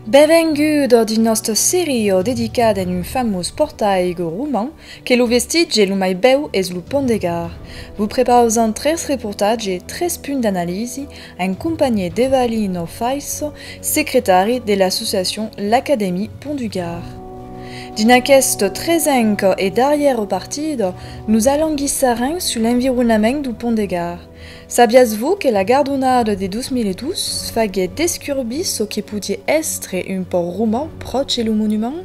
Benvenguda dins nòsta seria dedicada en un famós pòrtaiga roman que lo vestitge lo mai bèu es lo pònt de Gard. Vos prepausam tres reportatges, tres punts d'analisi, en companhier d'Evalino Faisso, secretari de l'associacion L'Académie Pont du Gard. Dins aqueth tresenc e darrièr partit, nos alanguissarem sus l'environament du Pont de Gard. Sabiatz-vos que la gardonada de 2002 faguèt descurbir çò que podie èstre un pòrt roman pròche lo monument?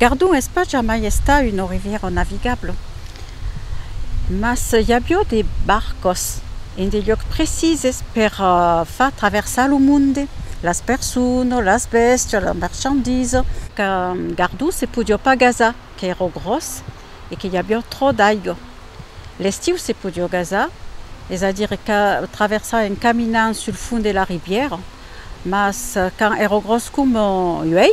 Gardon es pas jamai estat una rivièra navigabla, mas i aviá de barcas en de luòcs precises per far traversar lo monde, las personas, las bèstias, las marchandisas. Qu'a Gardon se podiá pas gasar, qu'èra gròs e que i aviá tròp d'aiga. L'estiu se podiá gasar, es a dire qu'a traversar en caminant sul fond de la rivièra, mas quand èra gròs coma uèi,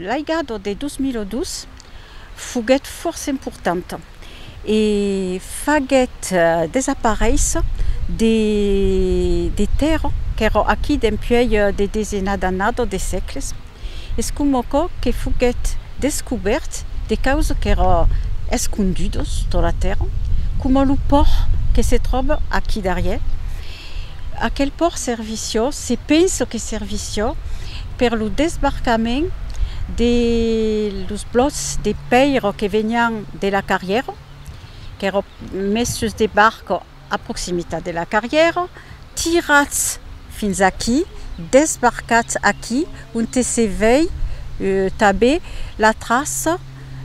L'aiga de 2002 foguèt fòrça importanta e faguèt desaparéisser de tèrra qu'èra aquí dempuèi de desenas d'annadas, de sègles. Es coma aquò que foguèt descobèrt de causa qu'èra escondudos tot la tèrra, coma lo pòr que se tròba aquí darrièr. Aquel pòr servissió, se pensa que servissió per lo desbarcament de los blòts de pèira que venián de la carrièra, qu'èra mes sus de barca, A proximitat de la carrièra, tirats fins aquí, desbarcats aquí, onte se vei tanben la traça,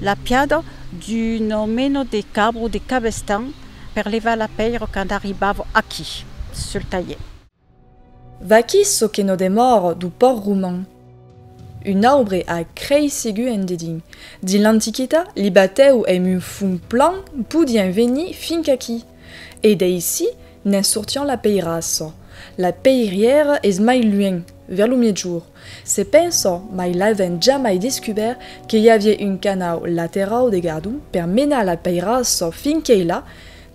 la piada d'un omeno de Cabro, de Cabestan, per levar la pèira quand arribava aquí, sul talhèr. Vaquí çò que no demòra du pòrt roman. Un aubre a creisigu en dedin. Dins l'Antiquita, li batèu èm un fum plan podián venir fin qu'aquí. E d'aicí n'es sortián la peirassa. La peirièra es mai luènh, vers lo miègjorn. Se pensa, mai l'avèm jamai descubèrt, que i aviá un canau laterau de gardon per menar la peirassa fin quei là,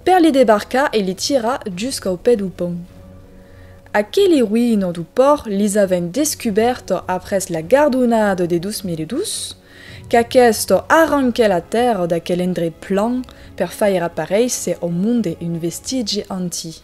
Per li debarcar e li tirar jusqu'au pè du pont. Aqueli ruïno du pòrt lis avèn descubèrto après la gardonada de 2002, qu'aquesto arranquè la tèrra d'aquel endrech plan per faire aparéisser au monde un vestigi antic.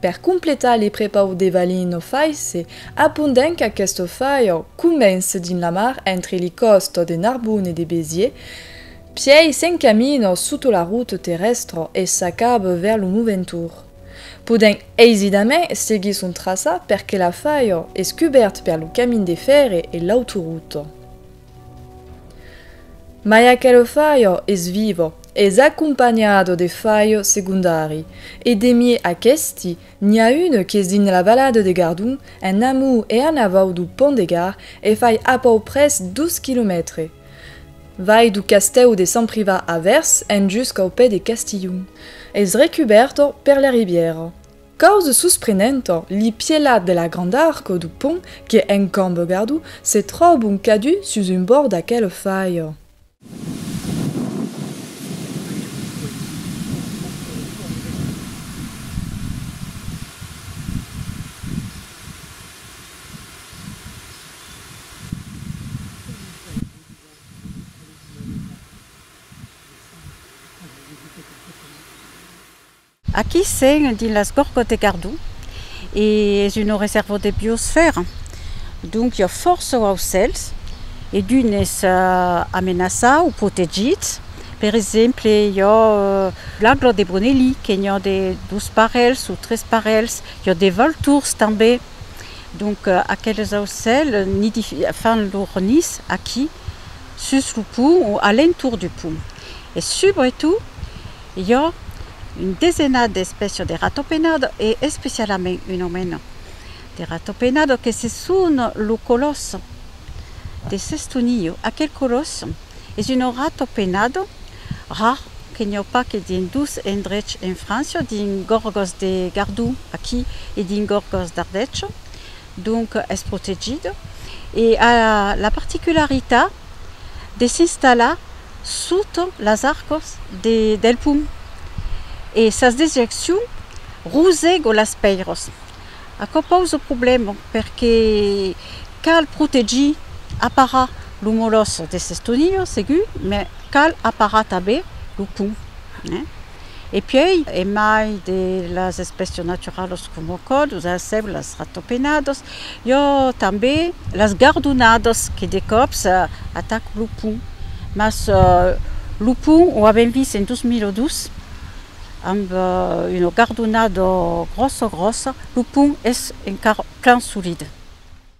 Per completar li prepau de valin no faisse apondent qu'aquesto faiau comence dins la mar entre li còsto de Narbonne e de Béziers, pièi s'encamina sota la route terrèstra e s'acaba vers lo Moventour, podent aisidament seguir son traçat perque la faiau es cubèrt per lo camin de fèrre e l'autoruta. Mai aquelo faio es vivo, es acompanhado de faio segondari, e demie aquesti, n'i a un qu'es dins la valada de Gardon, en amor e en avau dau Pont de Gard, e fai apauprès dos quilomètres. Vai dau castèu de Sant Priva avèrs en jusqu'au pè de Castilhon, es recubèrto per la ribièra. Causa susprenenta, li pièlats de la granda arco du pont que en Cambogardou se tròbon cadun sus un bòrd d'aquela faia. Aquí sèn dins las Gorgòt de Gardon e es una resèrva de biosfèra, donc i a fòrça aucèls e d'unes amenaçats o protegits, per exemple i a l'agla de Bronelí que n'i a de dos parelhs o tres parelhs, i a de valtors tanben, donc aqueles aucèls fan lor nis aquí sus lo pont o a l'entorn du pont e subretot Jo, un desenat d'espècia de ratopenado e especialament un omeno de ratopenado que se son lo colosso de Sestoniyo. Aquel colosso es un ratopenado rar que n'i au pas que dins dos endrechs en França, dins Gorgos de Gardon aquí e dins Gorgos d'Ardècho, donc es protegit e a la particularitat de s'installar sota las arcas del pum e sas dejeccion rosego las pèiras. Aquò pausa problèma perque cal protegir, aparar lo molòs de s'estonilhar segur, mai cal aparar tanben lo pum. E puèi, e mai de las espècias naturalas coma còdos, sèulas, ratopenadas, i a tanben las gardonadas que de còps atacan lo pon. Mas lo pon o avèm vist en 2002 amb una gardonada gròssa gròssa, lo pon es encara plan solid.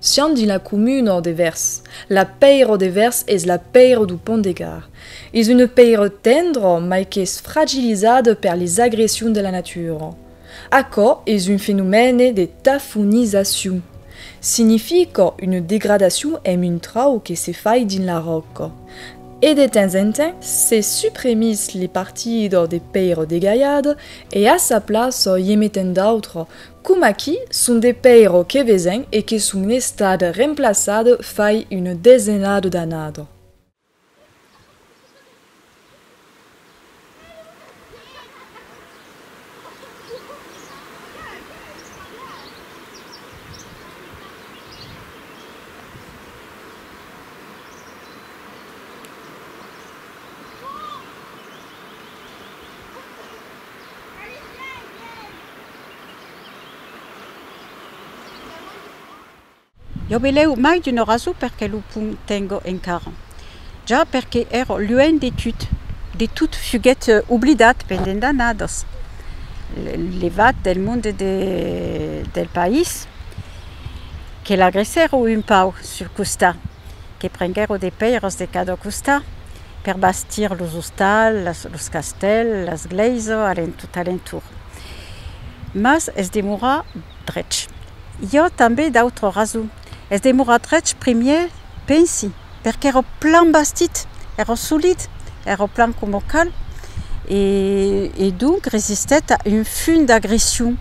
Siam dins la comuna ò de Vèrs. La pèira de Vèrs es la pèira du Pont de Gard. Es una pèira tendra mai qu'es fragilizada per les agressions de la natura. Aquò es un fenomène de tafonizacion. Significa una degradacion emb un trau que se fai dins la ròca. E de temps en temps se suprimís li partida de pèira degalhada e a sa plaça i en metent d'autra Coma qui son de pèiro que vesen e que son estat remplaçat fai una desenada d'anada. Jo velèu mai d'un oraso per que lo pum tengo encara. Ja perque ero luènh de tut, de tut fuguèt oblidat pendent d'annadas, levat del monde de, del país, que l'agressèro un pauc sul costat. que prenguèro de pèiras de cada costat per bastir los ostals, las, los castèls, las glèisa a l'en, tot a l'entorn. Mas es demorar drech. I a tanben d'autra rason. Es demorar drech primièr, pensi, per qu'èra plan bastit, èra solid, èra plan coma cal e, e donc resistèt a un fum d'agression,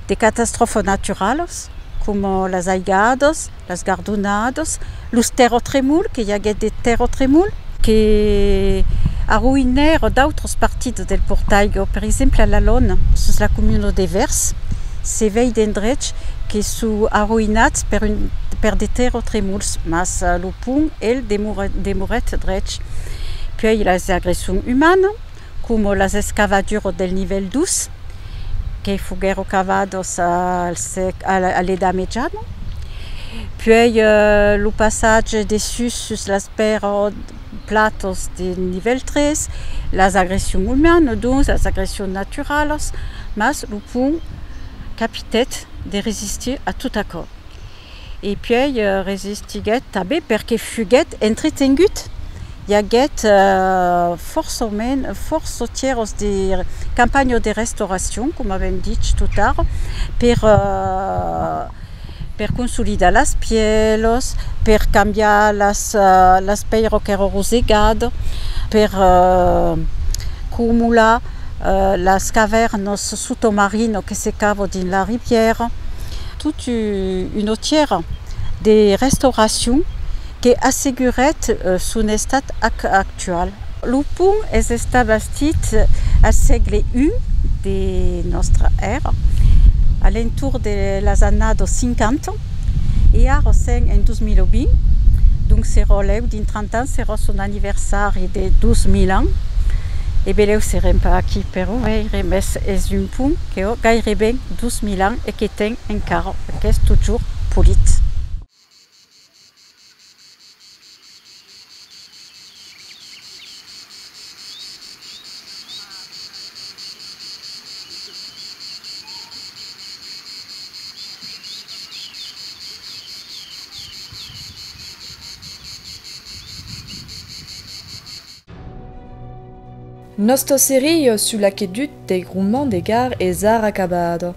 de catastròfas naturalas coma las aigadas, Las gardonadas, los terrotremols, que i aguèt de terrotremols. Que arroïnèron d'autras partidas del Portaigò, per exemple a la Lona, sus la comuna de Vèrs, se vei d'endrechs que son arroïnats per de terrotremols, mas lo pont, el, demorèt drech. Puèi las agressions umanas. coma las escavaduras del nivèl dus, que foguèron cavadas a l'Edat Mejana, puèi lo passatge de sus sus las platas de nivèl tres, las agressions umanas, donc las agressions naturalas, mas lo pont capitèt de resistir a tot aquò. E puèi resistiguèt tanben perque fuguèt entretengut. I aguèt fòrça autièros de campanha o de restauracion, coma avèm dich totara, per consolidar las pièlos, per cambiar las pèiras qu'èran rosegadas, per comular Las cavèrnos sotomarino que se cavo dins la ribièra. Tot un otièra de restauracion que assegurèt son estat actual. Lo pont es estat bastit al sègle I de nòstra èra, a l'entorn de las annadas 50. E ara sen en 2020, donc se rolèu dins 30 ans serà son anniversari de 2000 ans, e belèu serem pas aquí per o veire, mès es un pont que ò gaireben 2000 ans e que ten encara, e qu'es totjorn polit. Nòsta seria sul aquedut dei Romans de Gard es ara acabada.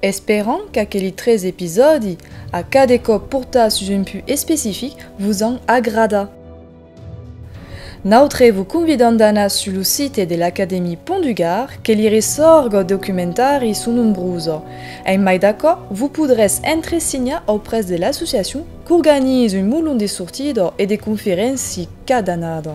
Esperam qu'aqueli tres episòdi, a cada còp portats sus un put especific, vos an agradat. Nautre vos convidam d'anar sus lo site de l'Academie Pont du Gard que li ressòrg ò documentari son nombrosa. En mai d'aquò, vos podrètz entresinhar auprès de l'associacion qu'organiza un molon de sortida e de conferénci cada annada.